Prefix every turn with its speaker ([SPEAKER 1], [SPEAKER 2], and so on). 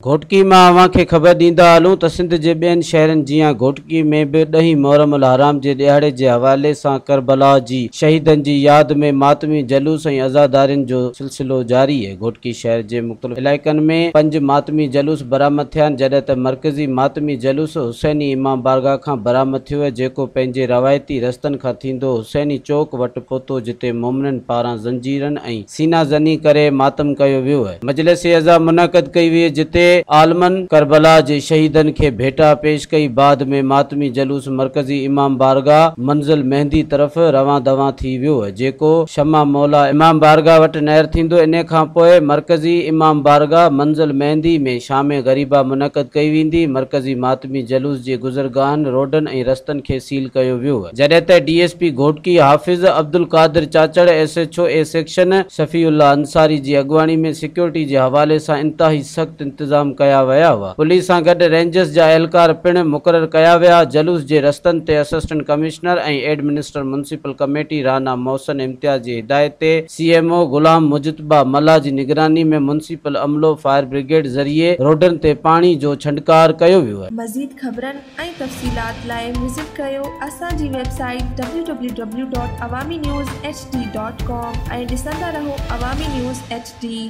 [SPEAKER 1] گهوٽڪي مان اوهان کي خبر ڏيندا هلون ته سنڌ جي ٻين شهرن جيان گهوٽڪي ۾ به ڏهين محرم الحرام جي ڏهاڙي جي حوالي سان ڪربلا جي شهيدن جي ياد ۾ ماتمي جلوس ۽ عزادارين جو سلسلو جاري، گهوٽڪي شهر جي مختلف علائقن ۾ پنج ماتمي جلوس برآمد ٿيا آهن جڏهن ته مرڪزي ماتمي جلوس حسيني امام بارگاهه کان برآمد ٿيو جيڪو پنهنجي روايتي رستن کان ٿيندو حسيني چوڪ وٽ پهتو جتي مومنن پاران زنجيرن ۽ سينا زني ڪري ماتم ڪيو ويو. مجلس عزا منعقد ڪئي وئي جتي عالمن ڪربلا جي شهيدن کي ڀيٽا پيش ڪئي بعد ۾ ماتمي جلوس مرڪزي امام بارگاهه منزل مهندي طرف روان دوان ٿي ويو. جيڪو شمع مولا امام بارگاھ وٽ نير ٿيندو انهي کان پوء مرڪزي امام بارگاھ منزل مهندي ۾ شام غريبه منعقد ڪئي ويندي مرڪزي ماتمي جلوس جي گذرگاهن روڊن ۽ رستن کي سيل ڪيو ويو جڏهن ته D S P Ghotki Hafiz Abdul Qadir Chachar S H O A section Shafi Ullah Ansari جي اڳواڻي ۾ سيڪيورٽي جي حوالي سان انتهائي سخت انتظام ڪيا ويا هئا پوليس سان گڏ رينجرس جا اهلڪار پڻ مقرر ڪيا ويا جلوس جي رستن تي assistant commissioner ۽ administrator municipal committee راهنا محسن امتياز جي هدايت تي سي ايم او غلام مجتبيٰ ملاح جي نگراني ۾ ميونسپل عملو فائر بريگيڊ ذريعي روڊن تي پاڻي جو ڇنڊڪار ڪيو ويو. مزيد خبرن ۽
[SPEAKER 2] تفصيلات لاء وزٽ ڪريو اسان جي website W W W dot Awami news H D dot com ۽ ڏسندا رهو عوامي نيوز ايڇ ڊي.